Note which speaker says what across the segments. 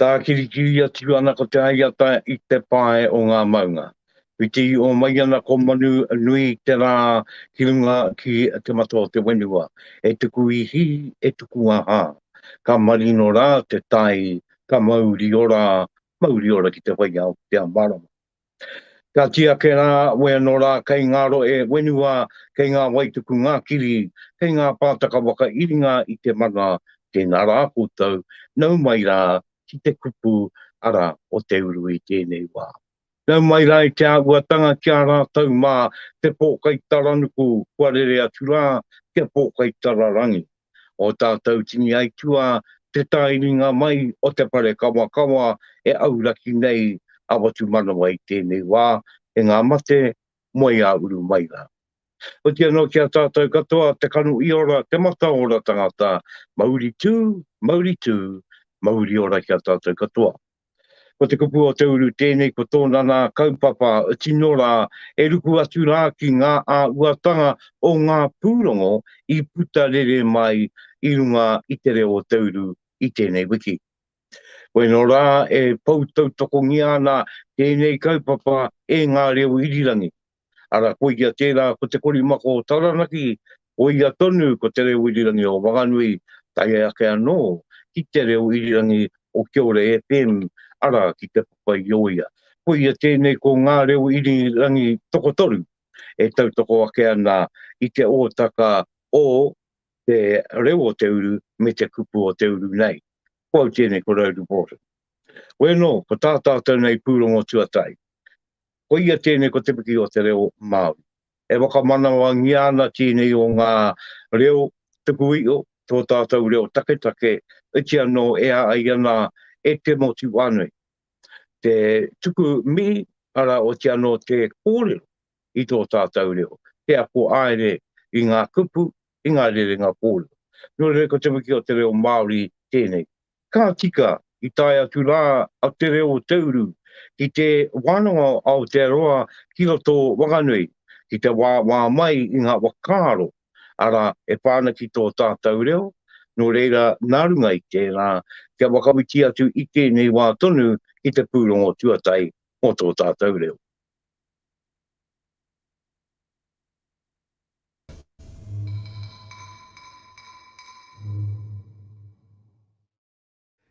Speaker 1: Tākirikiri atu ana ko te aiata i te pae o ngā maunga. Whiti o mai ana ko manu nui te rā ki runga ki te mata o te wenua. E tuku ihi, e tuku aha. Ka marino rā te tai, ka mauri ora, mauri ora ki te whaiao, ki te amarama. Ka kī ake rā, Wē anō rā, kei ngā rohe whenua, kei ngā waituku ngā kiri, kei ngā pātaka whakairinga i te mana, tēnā rā koutou, nau mai rā ki te kupu, arā, o te uru i tēnei wā. Nau mai rā i te āhuatanga ki a rātou mā te pōkaitaranuku kua rere atu rā ki a pōkaitararangi. o tātou tini aituā te taeringa mai o te parekawakawa e auraki nei a Watumanawa i tēnei wā, e ngā mate, moe ā uru mai rā. Oti anō ki a tātou katoa te kano i ora, te mataora tangata, mauri tū, mauri tū, mauri ora ki a tātou katoa. Ko te kupu o Te Uru tēnei ko tōna nā kaupapa tino rā e ruku atu rā ki ngā āhuatanga o ngā pūrongo i puta rere mai i runga i te reo o Te Uru i tēnei wiki. Koe nō rā e pou tautokongia ana tēnei kaupapa e ngā reo irirangi. Ara, koia tera, ko te korimako o Taranaki, koia tonu ko te reo irirangi o Wanganui, tae ake ano ki te reo irirangi o Kiore FM, ara, ki te Papaioia. Koia tenei ko nga reo irirangi tokotoru e tautoko ake ana i te otaka o te reo o te uru me te kupu o te uru nei. Ko au tenei ko Rowdy Broughton. Weno, ko ta tatou nei purongo tuatahi. Koia tēnei ko Te Piki o te Reo Māori. E whakamanawangia ana tēnei o ngā reo tuku iho, tō tātou reo taketake, iti anō e a ai ana e te motu whānui. Te tuku mihi, arā, oti anō te kōrero i tō tātou reo, te ako aere i ngā kupu, i ngā rerenga kōrero. Nō reira ko Te Piki o te Reo Māori tēnei. Ka tika, i tae atu rā a Te Reo o Te Uru ki te wānanga o Aotearoa ki roto o Wanganui, ki te wāwā mai i ngā whakaaro, arā, e pā ana ki tō tātou reo, nō reira, nā runga i tērā, kia whakawhiti atu i tēnei wā tonu ki te pūrongo tuatahi mō tō tātou reo.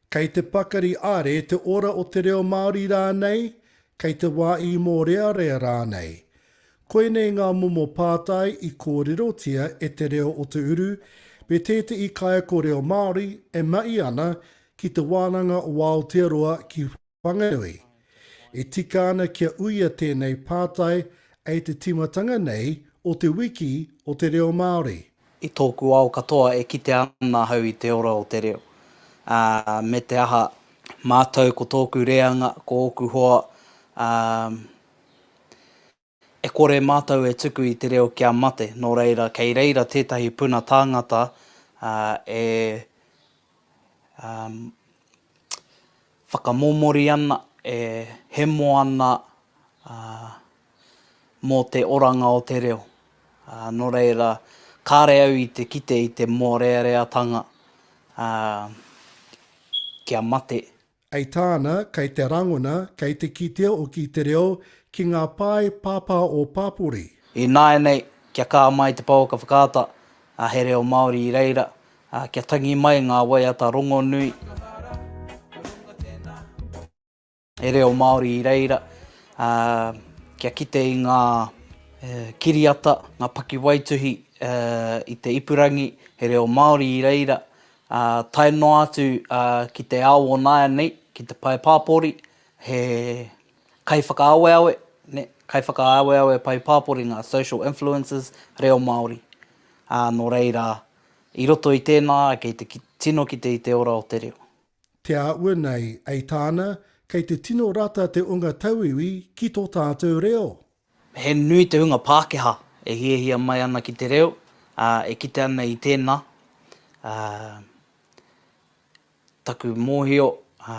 Speaker 1: Kei te pakari are te ora o te reo Māori rānei, kei te wā i mōrearea rānei. Koinei ngā momo pātai i kōrerotia e Te Reo o Te Uru me tētehi kaiako reo Māori e mahi ana ki te wānanga o Aotearoa ki Whanganui. E tika ana kia uia tēnei pātai e te tīmatanga nei o Te Wiki o te Reo Māori. I tōku ao katoa e kite ana ahau i te ora o te reo, ā, me te aha, mātou ko tōku reanga, ko ōku hoa, ā, E kore mātou e tuku i te reo kia mate, nō reira, kei reira tētahi puna tāngata e whakamomori ana, e hemo ana mō te oranga o te reo. Nō reira, kāre au i te kite i te mōreareatanga kia mate. Hei tāna, kei te rangona, kei te kitea hoki te reo ki ngā pae pāpā o Pāpori. Ināianei, kia kā mai te pouaka whakaata, ā, he reo Māori i reira, ā, kia tangi mai ngā waiata rongonui, he reo Māori i reira, ā, kia kite i ngā kiriata, ngā pakiwaituhi i te ipurangi, he reo Māori i reira, Ā, tae noa atu ki te ao o nāianei, ki te pae pāpori, he kaiwhakaaweawe, kaiwhakaaweawe pae pāpori ngā social influencers reo Māori. Ā, nō reira, i roto i tēnā, kei te tino kite i te ora o te reo. Te āhua nei, ei tāna, kei te tino rata te unga tauiwi ki tō tātou reo. He nui te hunga Pākehā e hiahia mai ana ki te reo, ā, e kite ana i tēnā, ā, taku mōhio, ā,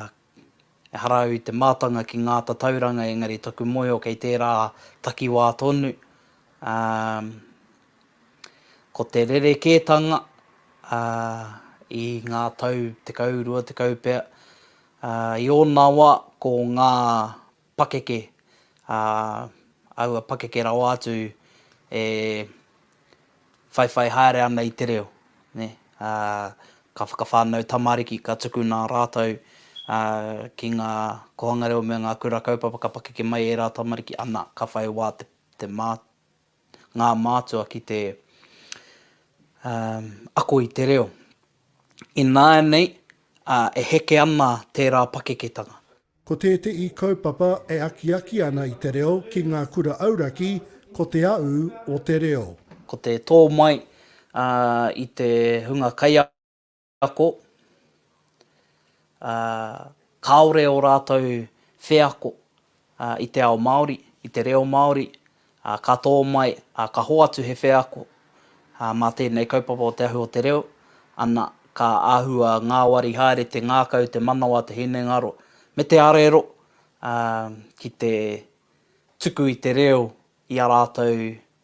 Speaker 1: ehara au i te mātanga ki ngā tatauranga engari taku mōhio kei tērā takiwā tonu, ā, ko te rerekētanga, ā, i ngā tau tekau, rua tekau pea, ā, i ōna wā ko ngā pakeke, ā, aua pakeke rawa atu e whaiwhai haere ana i te reo, nē, ā, ka whakawhānau tamariki, ka tukuna rātou, ā, ki ngā kōhanga reo me ngā kura kaupapa ka pakeke mai ērā tamariki, ana, ka whai wā te, te mā, ngā mātua ki te, ā, ako i te reo. Ināianei, ā, e heke ana tērā pakeketanga. Ko tētehi kaupapa e akiaki ana i te reo ki ngā kura auraki ko Te Aū o te Reo. Ko te tō mai i te hunga kaiako, kāore ō rātou wheako i te ao Māori, i te reo Māori, ā, ka tō mai, ā, ka hoatu he wheako, ā, mā tēnei kaupapa o Te Ahu o te Reo, ana, ka āhua ngāwari haere te ngākau, te manawa, te hinengaro, me te arero, ā, ki te tuku i te reo i a rātou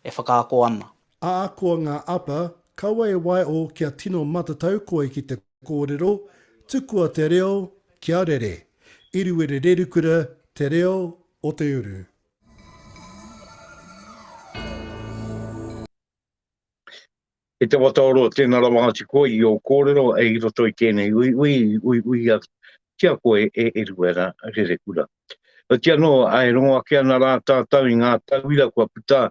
Speaker 1: e whakaako ana. Ahakoa ngā apa, kaua e waeō kia tino matatau koe ki te kōrero, tukua te reo kia rere. Iruere Rerukura, Te Reo o te Uru. Kei te whataoroa tēnā rawa atu koe i ō kōrero i roto i tēnei uiui, uiuia tia koe e Eruera Rerekura. Nō tia noa, e rongo ake ana rā tātou i ngā tauira kua puta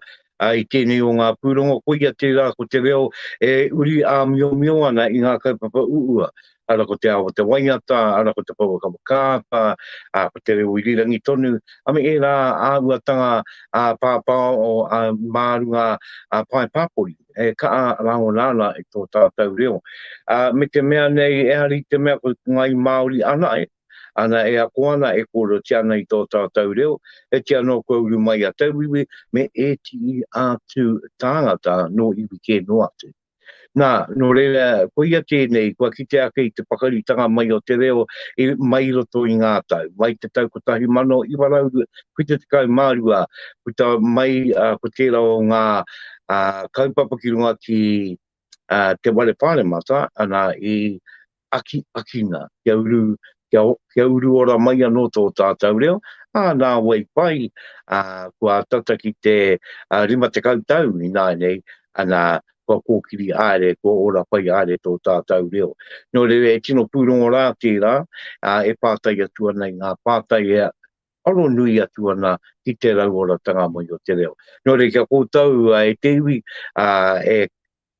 Speaker 1: ā, i tēnei o ngā pūrongo, koia tērā ko te reo e uri āmiomio ana i ngā kaupapa uua, ara ko te ao o te waiata, ara ko te pouaka whakaata, ā, ko te reo irirangi tonu, a me ērā āhuatanga ā-pāpāo, ā, mā runga ā-pae pāpori, e kaha rāngona ana i tō tātou reo. Ā, me te mea nei, ehara i te mea ko ngāi Māori ana, ē. Ana e ako ana e kōrerotia ana i tō tātou reo, e tia nō kua uru mai a tauiwi me ētihi atu tāngata nō iwi kē noa atu. Nā, nō reira, koia tēnei, kua kite ake i te pakaritanga mai o te reo i, mai i roto i ngā tau, mai i te tau 1972, puta mai ko tērā o ngā kaupapa ki runga ki uh, te wale pāremata, ana i aki akina, kia uru, kia, kia uru ora mai anō tō tātou reo, ā, nā wai pai, ā, kua tata ki te ā, rima te kautau i nāinei, ana, kua kōkiri āre, kua ora pai āre tō tātou reo. Nō rewe, e tino pūrongo rā tērā, ā, e pātai atu ana i ngā pātai e, aro nui atu ana ki te rauoratanga mai o te reo. Nō reira kia koutou e te iwi e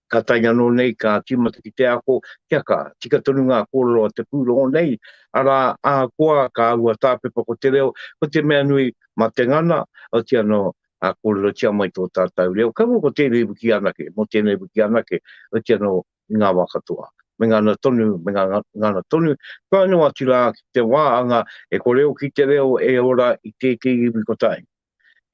Speaker 1: ka tae anō nei ka tīmata ki te ako, kia ka, tika tonu ngā kōrero a te pūrongo nei, arā, ahakoa ka āhua tāpepa ko te reo, ko te mea nui, mā te ngana, oti anō, kōrerotia mai tō tātou reo, kaua ko tēnei wiki anake, mō tēnei wiki anake, oti anō, i ngā wā katoa, me ngana tonu, me ngana tonu, tae noa atu rā ki te wā anga e kore hoki te reo e ora i tētehi iwi kotahi.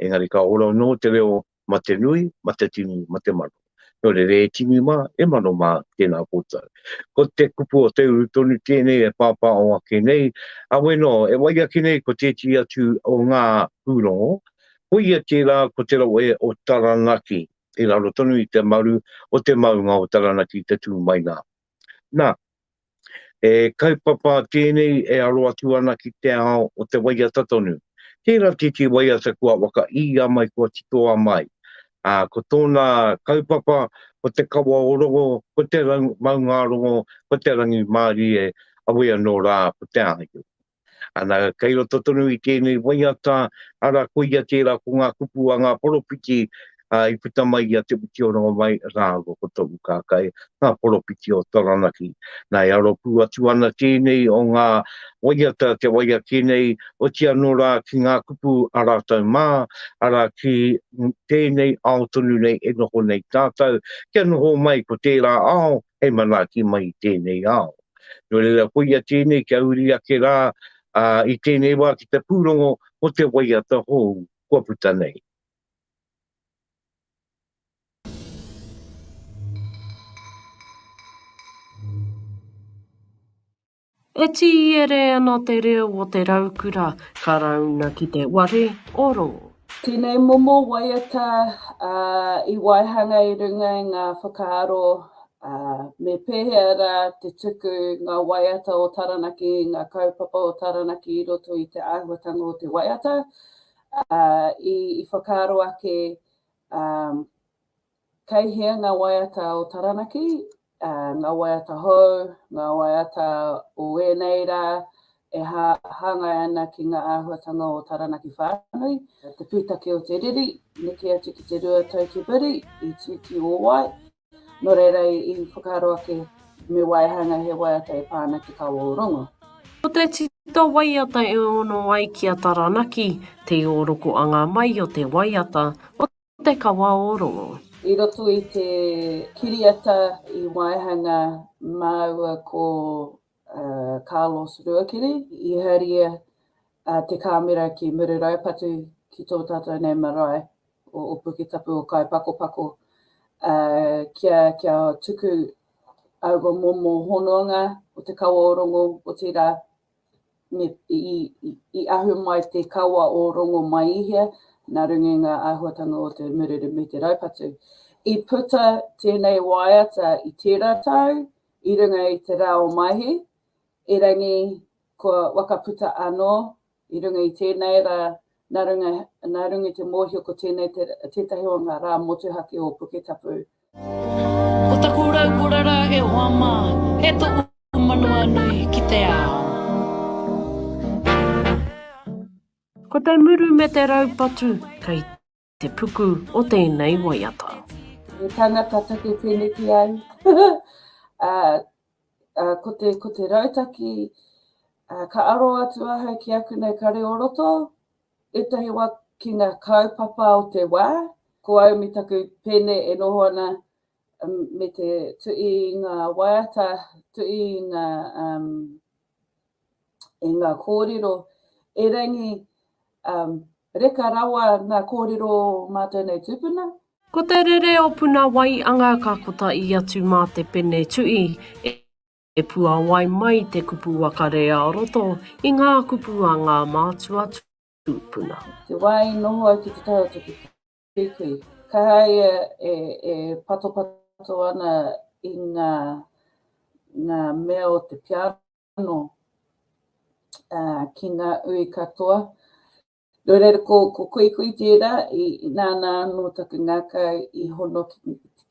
Speaker 1: Engari ka ora anō te reo ma te nui, ma te tini, ma te mano. Nō reira e tini mā, e mano mā, tēnā koutou. Ko te kupu o te uru tonu tēnei e pāpāho ake nei, awe nō, e wai ake nei ko tētehi atu o ngā pūrongo, koia tērā ko te rohe o Taranaki, i raro tonu i te maru o te maunga o Taranaki i te tū mai nā. Nā, e kaupapa tēnei e aro atu ana ki te ao o te waiata tonu. Tērā tētī waiata kua waka i a mai kua titoa mai. Ā, ko tōna kaupapa, ko te kawa o rongo, ko te maungārongo, ko te rangi mārie, a wea nō rā, ko te āhio. Ana, kei roto tonu i tēnei waiata, ara, koia tērā ko ngā kupu a ngā poropiti i puta mai i a Te Witioranga mai rāua ko Tohu Kākai, ngā poropiti o Taranaki. Nā, e aro pū atu ana tēnei o ngā waiata, te wai ake nei, oti anō rā ki ngā kupu a rātou mā, arā, ki tēnei ao tonu nei e noho nei tātou, kia noho mai ko tērā ao, hei manaaki mai i tēnei ao. Nō reira, koia tēnei kia uri ake rā i tēnei wā ki te pūrongo mō te waiata hou kua puta nei. E tīere ana te reo o te raukura Karauna ki te ware o rō. Tēnei momo waiata i waihanga i runga i ngā whakaaro me pēhea rā te tuku ngā waiata o Taranaki, ngā kaupapa o Taranaki i roto i te āhuatanga o te waiata, i whakaaro ake. Kei hea ngā waiata o Taranaki, ngā waiata hou, ngā waiata o ēnei rā e hāngai ana ki ngā āhuatanga o Taranaki whānui, te pūtake o te riri, neke atu ki te rua tau ki muri, i tū ki ō wai, nō reira i whakaaro ake me waihanga he waiata e pā ana ki Kawa o Rongo. Ko te tita waiata e ono ai ki a Taranaki, te ōrokoanga mai o te waiata o. Te Kawa o Rongo. I roto i te kiriata i waihanga māua ko Carlos Ruakiri, i haria te kāmera ki Mururaupatu ki tō tātou nei marae o Opuke Tapu o Kaipakopako kia tuku aua momo hononga o Te Kawa o Rongo, otirā i ahu mai te kawa o Rongomaihia, nā runga i ngā āhuatanga o te murere me te raupatu. I puta tēnei waiata i tērā tau i runga i te rā o Maehe, erangi kua wakaputa anō i runga i tēnei rā Nā runga, nā runga i te mōhio ko tēnei te, tētahi o ngā rā motuhake o Puketapu. Ko taku raukura ra e hoa ma, e toku manawa nui ki te ao. Ko te muru me te raupatu kei. te puku o tēnei waiata. He tangata take tēneki au. uh, uh, ko, te, ko te rautaki, uh, ka aro atu ahau ki aku nei kare o roto, etahi wa ki ngā kaupapa o te wā, ko au mi taku pene e noho ana um, me te tui i ngā waiata, tui i ngā, um, e ngā kōrero erangi um, reka rawa ngā kōrero o mātou nei tūpuna. Ko te rere o puna wai anga ka kota i atu mā te pene tu'i e, e puawai mai te kupu wakarea o roto i ngā kupu a ngā mātua tūpuna. Te wai noho au ki te tau o te Pēpi. Ka haea e patopato ana i ngā mea o te piano ki ngā ui katoa. No reira, ko Kuikui tērā, nāna anō taku ngākau i hono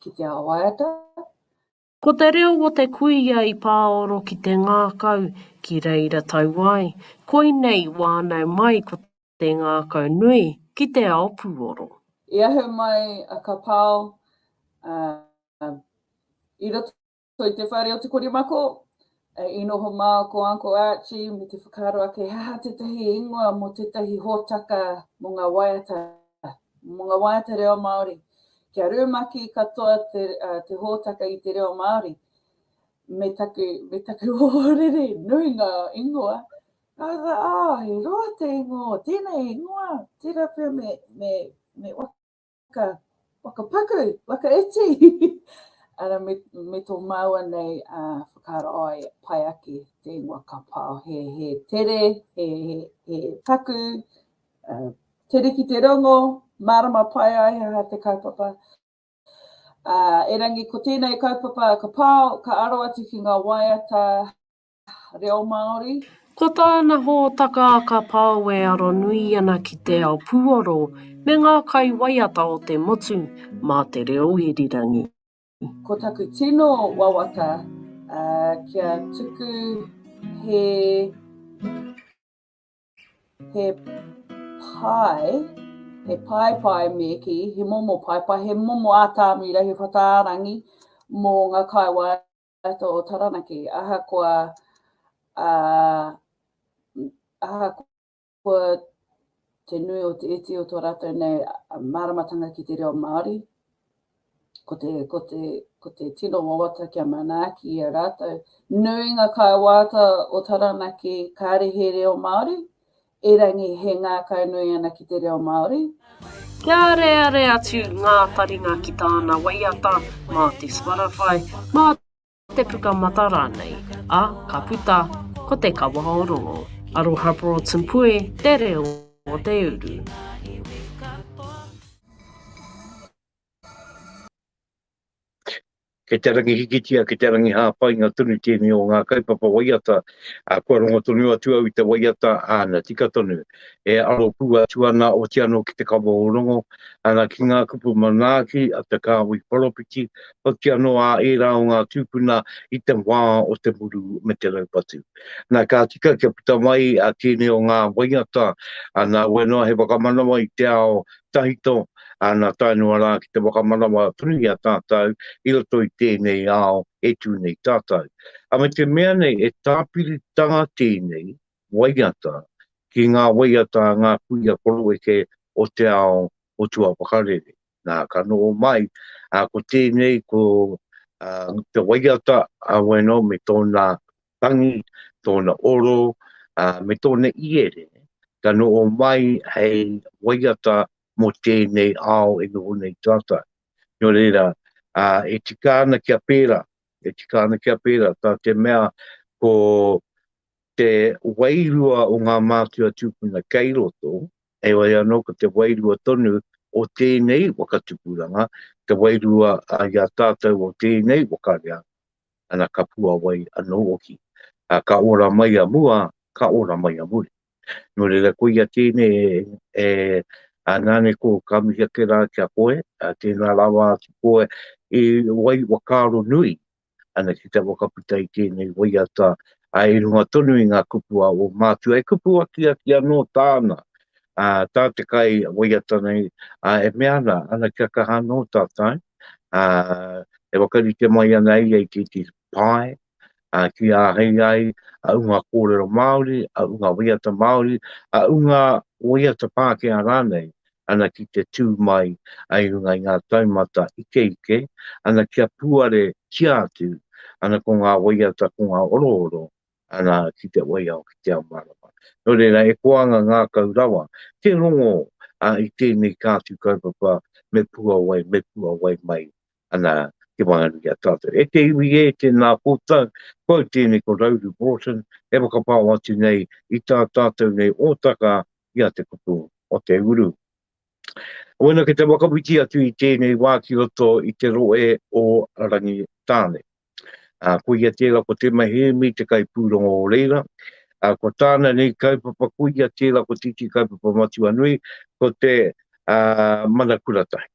Speaker 1: ki te ao waiata. Ko te reo o te kuia i pāoro ki te ngākau ki reira tau ai, koinei wānau mai ko te ngākau nui ki te ao pūoro. I ahu mai a Kapao i roto i te whare o Te Korimako, I noho mā ko Uncle Archie me te whakaaro ake he aha tētahi ingoa mō tētahi hōtaka mō ngā waiata, mō ngā waiata reo Māori. Kia rumaki katoa te hōtaka i te reo Māori me taku, me taku ohorere, nui ngā ingoa. Ka rā, oh, he roa te ingoa, tēnei ingoa, tērā pea me, me, me whaka, whakapaku, whakaiti, ara me, me tō māua nei uh, whakaaro ai, pai ake te ingoa ka pao, he, he tere, he, he, he taku, uh, tere ki te rongo, mārama pai ai ha te kaupapa. Uh, erangi, ko tēnei kaupapa ka pao, ka aro atu ki ngā waiata, reo Māori. Ko tāna hōtaka a Ka Pao e aro nui ana ki te ao puoro me ngā kai waiata o te motu mā te reo irirangi. Ko taku tino wawata kia tuku he he pae, he pae pae me ki, he momo pae pae, he momo ātāmira, he whataarangi mō ngā kaiwae Kato o Taranaki, ahakoa a ahakoa te nui o te iti o to ratou nei maramatanga ki te reo Māori, ko te, ko te, ko te tino wawata kia manaaki i a rātou. Nuinga kai wāta o Taranaki kāre he reo Māori, Erangi he ngākau nui ana ki te reo Māori. Kia areare atu ngā taringa ki tāna waiata mā te Spotify, mā te Pukamata rānei, ā, ka puta, ko Te Kawa o Rongo. Aroha Broughton Puē, te reo o te uru. Kei te rangi hikitia, kei te rangi hāpainga tonu tēnei o ngā kaupapa waiata, ā, kua rongo tonu atu au i te waiata, āna, tika tonu. E aro pū atu ana, oti anō ki te kawa o Rongo, ana, ki ngā kupu manaaki a te kāhui poropiti, oti anō ā ērā o ngā tūpuna i te wā o te muru me te raupatu. Nā, ka tika kia puta mai tēnei o ngā waiata, ana, wai noa he whakamanawa i te ao Tahito, nā tae noa rā ki te whakamanawa tonu i a tātou i roto i tēnei ao e tū nei tātou. A me te mea nei he tāpiritanga tēnei waiata ki ngā waiata a ngā kuia koroeke o te ao o tua whakarere. Nā, ka noho mai, ko tēnei ko te waiata a Weno me tōna tangi, tōna oro, ā, me tōna iere, ka noho mai hei waiata mō tēnei ao e noho nei tātou. Nō reira, ā, e tika ana kia pērā, e tika ana kia pērā, tā te mea ko te wairua o ngā mātua tūpuna kei roto, heoi anō ko te wairua tonu o tēnei waka tupuranga, te wairua i a tātou o tēnei waka reanga. ana ka puawai anō hoki. Ā, ka ora mai a mua, ka ora mai a muri. Nō reira, koia tēnei e, ā, nāne ko, ka mihi ake rā ki a koe, ā, tēnā rawa atu koe i wai whakaaro nui ana ki te whakaputa i tēnei waiata, ā, i runga tonu i ngā kupu a ō mātua, e kupu akiaki anō tāna ā, tā te kai waiata nei, ā, e mea ana, ana kia kaha anō tātou, ā, e whakarite mai ana ia i te iti pae, ā, ki āhei ai a ūnga kōrero Māori, a ūnga waiata Māori, a ūnga waiata Pākehā rānei, ana ki te tū mai i runga i ngā taumata ikeike, ana kia puare tia atu, ana ko ngā waiata, ko ngā orooro, Arā, ki te waiao, ki te ao mārama. Nō reira, e koanga ngākau rawa te rongo i tēnei kāti kaupapa me puawai, me puawai mai ana te wānanga ki a tātou. E te iwi ē, tēnā koutou, ko au tēnei ko Rauru Broughton, e whakapao atu nei i tā tātou nei ōtaka i a Te Kupu o Te Uru. Wēnā kei te whakawhiti atu i tēnei wā ki roto i te rohe o Rangitāne. A, ko ia tērā ko Te Mahēmi te kaipūrongo o reira, a, ko tāna nei kaupapa ko ia tērā ko Titi Kaupapa Matua Nui, ko te a, Mana Kuratahi.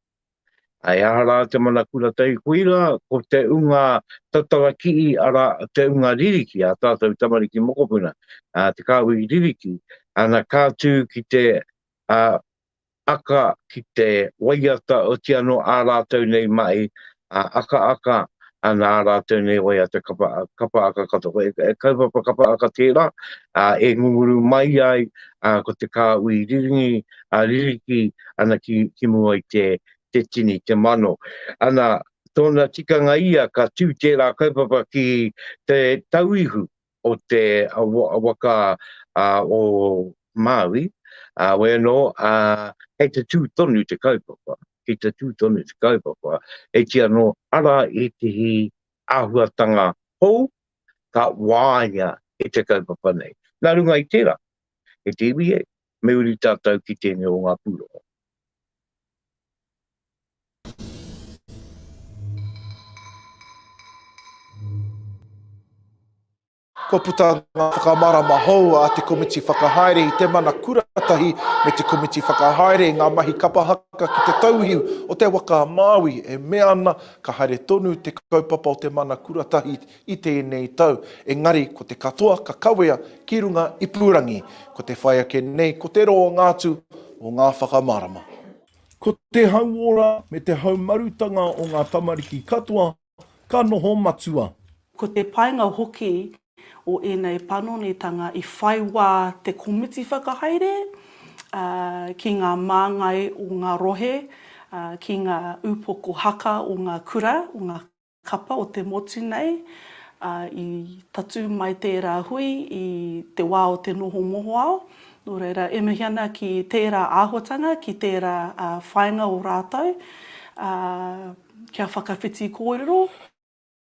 Speaker 1: A, e aha rā te Mana Kuratahi? Koirā ko te unga tatara kii, arā, te unga ririki a tātou tamariki mokopuna, a, te kāhui ririki, ana ka tū ki te a, aka ki te waiata oti anō ā rātou nei mahi akaaka ana ā rātou nei waiata kapa aka katoa. Ko te kaupapa kapa aka tērā e ngunguru mai ai ko te kāhui riringi ririki ana ki mua i te tini, te mano. Ana, tōna tikanga ia ka tū tērā kaupapa ki te tauihu, o te waka o Māui, wai anō, kei te tū tonu te kaupapa, kei te tū tonu te kaupapa, e kī anō, ara ētehi āhuatanga hou ka wāia e te kaupapa nei. Nā runga i tērā, e te iwi e, Me uri tātou ki tēnei o ngā pūrongo. Kua puta ngā whakamārama hou a te Komiti Whakahaere i te Mana Kura tahi me te Komiti Whakahaere i ngā mahi kapa haka ki te tauihu o te waka a Māui e mea ana ka haere tonu te kaupapa o te Mana Kura tahi i tēnei tau, engari ko te katoa ka kawea ki runga ipurangi, ko te whai ake nei ko te roanga atu o ngā whakamārama. Ko te hauora me te haumarutanga o ngā tamariki katoa ka noho matua. Ko te painga hoki o ēnei panonitanga i whai wā te komiti whakahaere ki ngā māngai o ngā rohe, ki ngā upoko haka o ngā kura, o ngā. Kapa o te motu nei, ā, i tatū mai tērā hui i te wā o te noho mohoao, nō reira, e mihi ana ki tērā āhuatanga, ki tērā whāinga o rātou, ā, kia whakawhiti kōrero.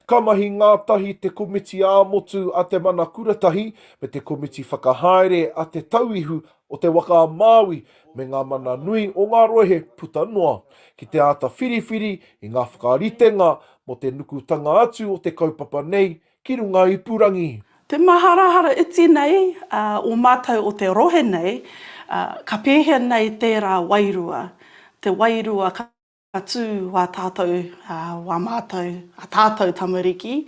Speaker 1: Ka mahi ngātahi te komiti ā-motu a Te Mana Kuratahi me te komiti whakahaere a Te Tauihu o te waka a Māui me ngā mana nui o ngā rohe puta noa, ki te āta whiriwhiri i ngā whakaritenga mō te nukutanga atu o te kaupapa nei ki runga ipurangi. Te maharahara iti nei a ō mātou o te rohe nei, ka pēhea nei tērā wairua, te wairua ka. Ka tū wā tātou, wā mātou, a tātou tamariki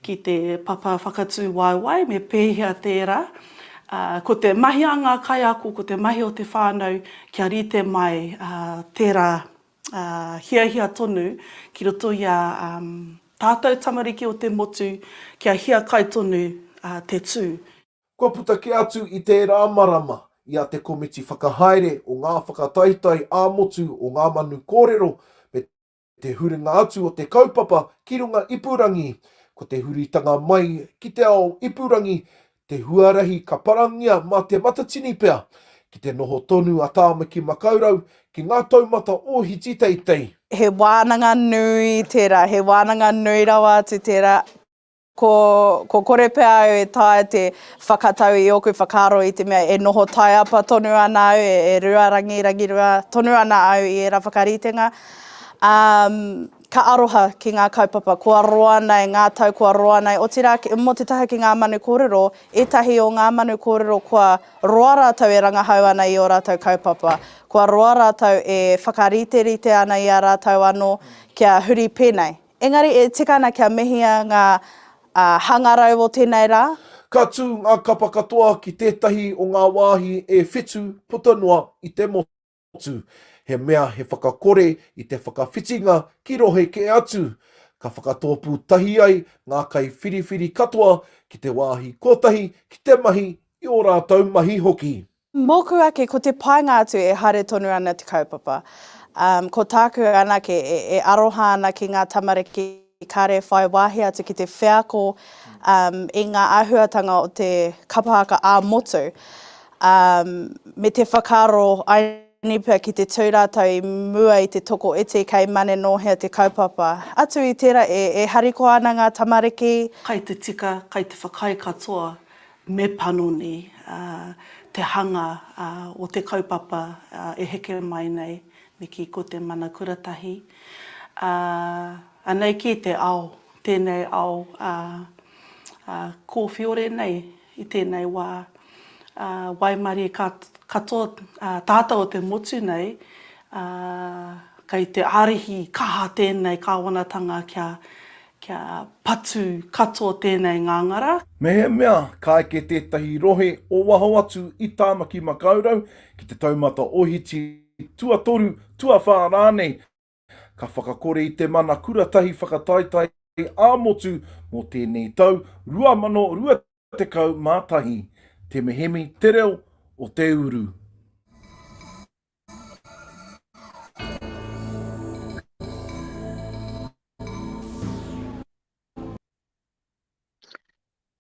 Speaker 1: ki te papa whakatū waewae me pēhea tērā. Ko te mahi a ngā kaiako, ko te mahi o te whānau kia rite mai tērā hiahia tonu ki roto i a tātou tamariki o te motu kia hiakai tonu te tū. Kua puta kē atu i tērā marama i a Te Komiti Whakahaere o ngā Whakataetae ā-Motu o ngā Manu Kōrero me te huringa atu o te kaupapa ki runga ipurangi, ko te huritanga mai ki te ao ipurangi te huarahi ka parangia mā Te Matatini pea ki te noho tonu a Tāmaki Makaurau ki ngā taumata ōhiti teitei. He wānanga nui tērā, he wānanga nui rawa atu tērā. Ko, ko kore pea au e taea te whakatau i ōku whakaaro i te mea e noho taiapa tonu ana au, e, e ruarangi, rangirua tonu ana au i ērā whakaritenga. Ā, ka aroha ki ngā kaupapa kua roa nei, ngā tau kua roa nei, otirā ki, mō te taha ki ngā manu kōrero, ētahi o ngā manu kōrero kua roa rātou e rangahau ana i ō rātou kaupapa, kua roa rātou e whakariterite ana i a rātou anō kia huri pēnei. Engari e tika ana kia mehia ngā hangarau o tēnei rā. Ka tū ngā kapa katoa ki tētahi o ngā wāhi e whitu puta noa i te motu, he mea he whakakore i te whakawhitinga ki rohe kē atu. Ka whakatōpū tahi ai ngā kaiwhiriwhiri katoa ki te wāhi kotahi ki te mahi i ō rātou mahi hoki. Mōku ake, ko te painga atu e haere tonu ana te kaupapa. Umm, ko tāku anake e, e aroha ana ki ngā tamariki kāre e whai wāhi atu ki te wheako, umm, i ngā āhuatanga o te kapa haka ā-motu, umm, me te whakaaro I nipa ki te tū rātou i mua i te toko iti kei mane nō hea te kaupapa. Atu i tērā, e, e harikoa ana ngā tamariki. Kai te tika, kai te whakaae katoa, me panoni te hanga o te kaupapa e heke mai nei, me kī ko te mana kura tahi. Anei kī te ao, tēnei ao kōwhiore nei i tēnei wā, waimarie katoa tātou o te motu nei, kei te ārihi kaha tēnei kāwanatanga kia Kia patu katoa tēnei ngāngara. Mehemea ka eke tētahi rohe o waho atu i Tāmaki Makaurau ki te taumata ohiti, tuatoru, tuawhā rānei, ka whakakore i te mana kuratahi whakataetae ā-motu mō tēnei tau, 2020. 11. Te mehemi te reo o te uru.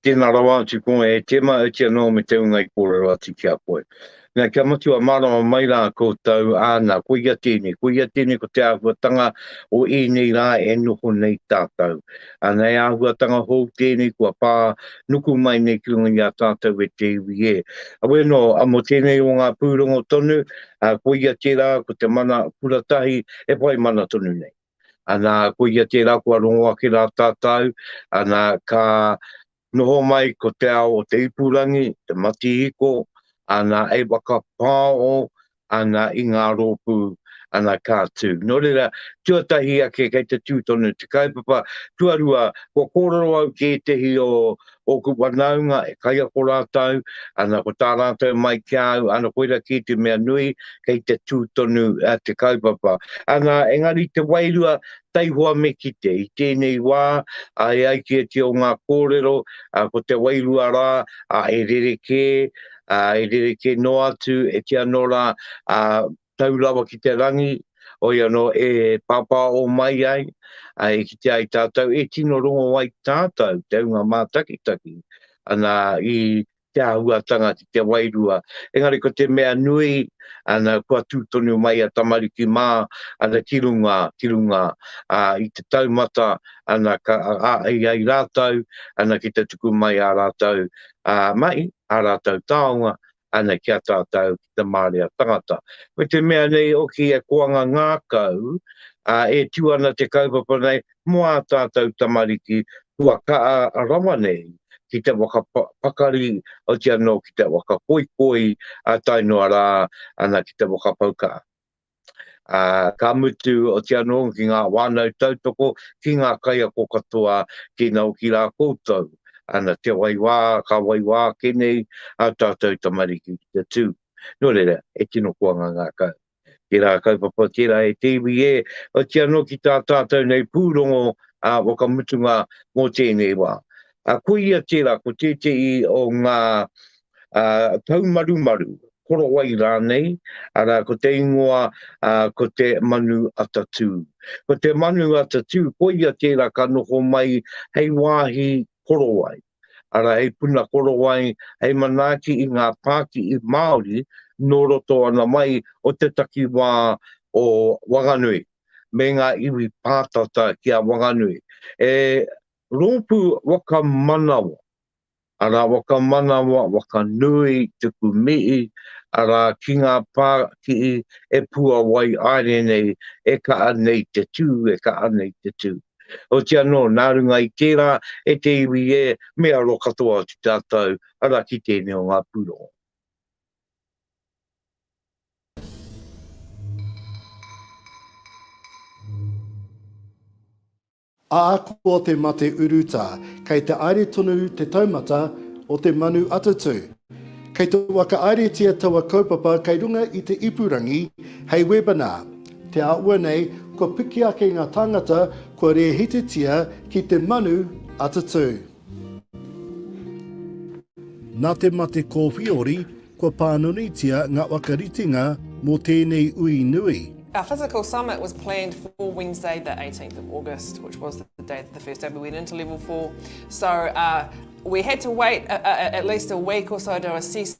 Speaker 1: Tēnā rawa atu koe e Tēma, oti anō me te ūnga i kōrero atu ki a koe. Nā, kia matua mārama mai rā koutou, āna, koia tēnei, koia tēnei ko te āhuatanga o ēnei rā e noho nei tātou. Āna, he āhuatanga hou tēnei kua pā nuku mai nei ki runga i a tātou e te iwi e. Awe nō, a mō tēnei o ngā pūrongo tonu, ā, koia tērā ko te mana kura tahi e whai mana tonu nei. Āna, koia tērā kua rongo ake rā tātou, āna, ka Noho mai ko te ao o te ipurangi, te matihiko, ana e whakapāo ana i ngā rōpū, ana ka tū. Nō reira, tuatahi ake kei te tū tonu te kaupapa, tuarua, kua kōrero au ki ētehi o ōku whanaunga e kaiako rātou, ana ko tā rātou mai ki a au, ana koira kē te mea nui, kei te tū tonu te kaupapa. Ana, engari te wairua, taihoa me kite i tēnei wā, ā, e ai ki ēti o ngā kōrero, ā, ko te wairua rā, ā, e rerekē, ā, e rerekē noa atu, e kī anō rā, ā, tau rawa ki te rangi, hoi anō, e pāpāo mai ai, ā, e kite ai tātou, e tino rongo ai tātou te hunga mātakitaki, ana, i te āhuatanga ki te wairua. Engari ko te mea nui, ana, kua tū tonu mai a tamariki mā, ana, ki runga, ki runga, ā, i te taumata, ana, ka, ā, ai, ai rātou, ana, ki te tuku mai ā rātou, ā, mahi, ā rātou taonga, ana, ki a tātou, ki te mārea tangata. Ko te mea nei hoki e koanga ngākau, ā, e tū ana te kaupapa nei, mō ā tātou tamariki kua kaha rawa nei ki te waka pakari, oti anō ki te waka poipoi, ā tae noa rā ana ki te waka pau kaha. Ā, ka mutu, oti anō ki ngā whānau tautoko, ki ngā kaiako katoa, tēnā hoki rā koutou, ana te waiwā, ka waiwā ake nei ā tātou tamariki ki te tū. Nō reira, he tino koanga ngākau. Tērā kaupapa, tērā e te iwi e, oti anō ki tā tātou nei pūrongo ā whakamutunga mō tēnei wā. Ā, ko ia tērā, ko tētehi o ngā ā, taumarumaru, korowai rānei, arā, ko te ingoa, ā, ko te manu atatū. Ko te manu atatū, ko ia tērā ka noho mai hei wāhi korowai. Arā, hei puna korowai, hei manaaki i ngā pākihi Māori nō roto ana mai o te takiwā o Wanganui, me ngā iwi pātata ki a Wanganui. He rōpū waka manawa, arā, waka manawa, waka nui, tuku mihi, arā, ki ngā pākihi e puawai aere nei, e kaha nei te tū, e kaha nei te tū. Oti anō, nā runga i tērā, e te iwi e, me aro katoa atu tātou, arā ki tēnei o ngā pūrongo. Ā, ko te mate urutā, kei te aere tonu te taumata o te manu atatū. Kei te whakaaeretia taua kaupapa kei runga i te ipurangi hei webinar. Te āhua nei, kua piki ake ngā tāngata kua rēhititia ki te manu a te tū. Nā te mate kōwhiori, kua pānunitia ngā whakaritenga mō tēnei ui nui. Our physical summit was planned for Wednesday the 18th of August which was the day that the first day we went into level four so we had to wait at least a week or so to assess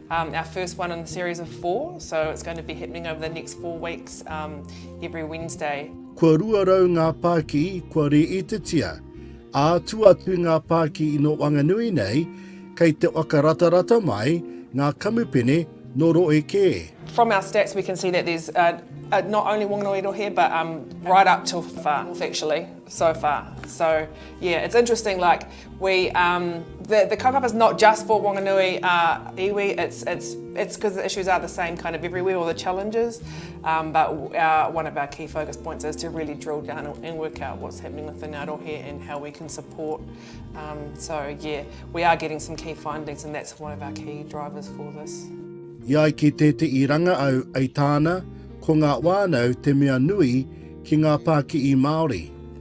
Speaker 1: Um, our first one in the series of four, so it's going to be happening over the next four weeks, um, every Wednesday. Kua rua rau ngā pāki kua rīitetia, ā, tu atu ngā pāki ino Wanganui nei, kei te waka ratarata mai ngā kamupene no roe kē. From our stats we can see that there's uh, uh, not only Wanganui rohe but um, right up to far actually, so far. So yeah, it's interesting like We um the the kaupapa is not just for Wanganui a iwi it's it's it's because the issues are the same kind of everywhere or the challenges um but our one of our key focus points is to really drill down and work out what's happening within our rohe and how we can support um so yeah we are getting some key findings and that's one of our key drivers for this. I ai ki tēteʻi ranga au ai tāna ko ngā wānau te mea nui ki ngā pākiʻi Māori.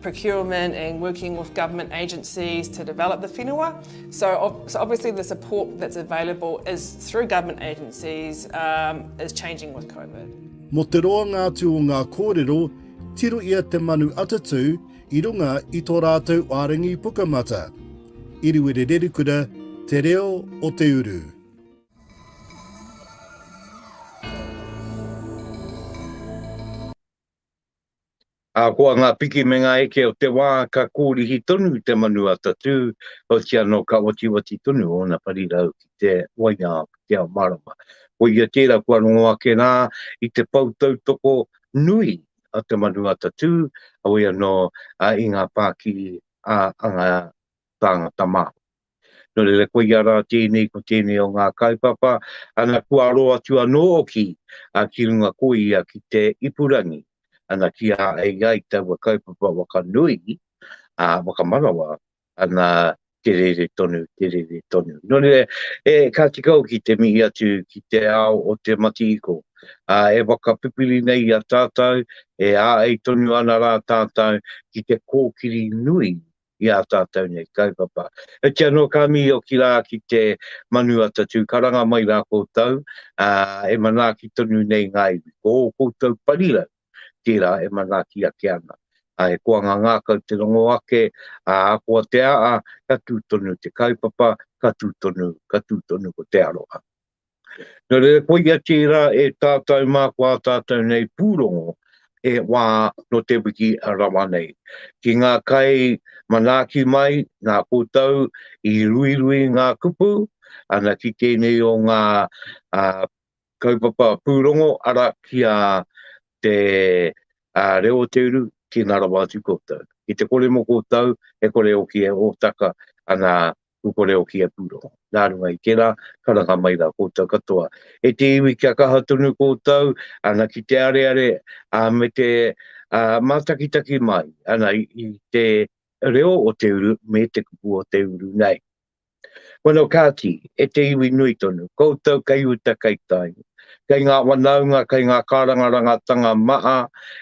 Speaker 1: procurement and working with government agencies to develop the whenua. So, so obviously the support that's available is through government agencies um, is changing with COVID. Mo te roanga atu o ngā kōrero, tiro ia te manu atatū i runga i tō rātou ārangi pukamata. Iriwere Rerikura, Te Reo o Te Uru. Ahakoa ngā piki me ngā eke o te wā ka kōrihi tonu te manu a Tatū, heoti anō ka watiwati tonu ōna parirau ki te waiao, ki te ao mārama. Koia tērā kua rongo ake rā i te pou tautoko nui a te manu a Tatū, heoi anō i ngā pākiri a ngā tāngata māori. Nō reira koia rā tēnei ko tēnei o ngā kaupapa, ana kua aro atu anō hoki ki runga ko ia ki te ipurangi, ana ki a ai ai taua kaupapa waka nui, ā, whakamanawa, ana te rere tonu, te rere tonu. Nō reira, e, ka tika hoki te mihi atu ki te ao o te matihiko, ā, e whakapipiri nei i a tātou, e āei tonu ana rā tātou ki te kōkiri nui i ā tātou nei kaupapa. Heoti anō ka mīoki rā ki te manu a tatū karanga mai rā koutou, ā, e manaaki tonu nei ngā iwi. Ko ō koutou parirau, tērā e manaaki ake ana. Ā, he koanga ngākau te rongo ake, ā, ahakoa te aa, ka tū tonu te kaupapa, ka tū tonu, ka tū tonu ko te aroha. Nō reira, koia tērā e tātou mā ko ā tātou nei pūrongo e wā nō te wiki rawa nei. Ki ngā kai manaaki mai, nā koutou i ruirui ngā kupu, ana ki tēnei o ngā kaupapa pūrongo, arā, ki a te reo o te uru, tēnā rawa atu koutou. Ki te kore mō koutou, e kore hoki e hōtaka ana kuko reo ki a Puro. Nā runga i tērā, ka ranga mai rā koutou katoa. E te iwi kia kaha tonu koutou, ana ki te areare, a me te a, mātakitaki mai, ana i, i te reo o te uru me te kupu o te uru nei. Wano kāti, e te iwi nui tonu, koutou kei uta kei tai, kei ngā wanaunga, kei ngā kārangarangatanga maa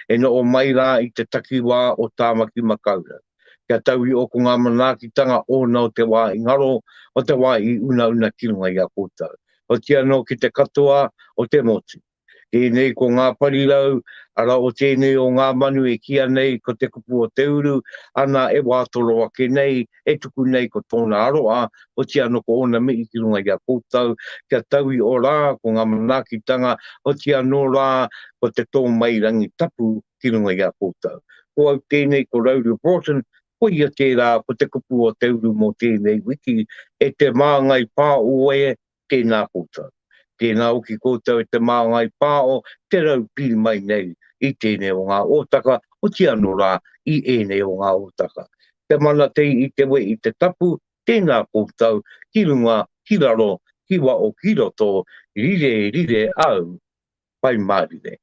Speaker 1: e noo mai rā i te takiwā o Tāmaki Makaurau. kia tau i ōku ngā manaakitanga ōna o te wā i ngaro, o te wā i unauna ki runga i a koutou, oti anō ki te katoa o te motu. Tēnei ko ngā parirau, arā o tēnei o ngā manu e kīa nei ko te kupu o te uru, ana e wā toro ake nei, e tuku nei ko tōna aroha, oti anō ko ōna mihi ki runga i a koutou, kia tau i ō rā ko ngā manaakitanga, oti anō rā ko te tōmairangi tapu, ki runga i a koutou. Ko au tēnei, ko Rauru Broughton, ko ia tērā, ko te kupu o te uru mō tēnei wiki, e te māngai pāo e, tēnā koutou. Tēnā hoki koutou e te māngai pāo, te rau pī mai nei i tēnei o ngā ōtaka, oti anō rā, i ēnei o ngā ōtaka. Te mana tei i te we i te tapu, tēnā koutou, ki runga, ki raro, ki wao, ki roto, rire, rire au, Pai Mārire.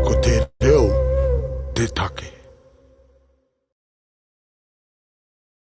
Speaker 1: Ko te reo te take.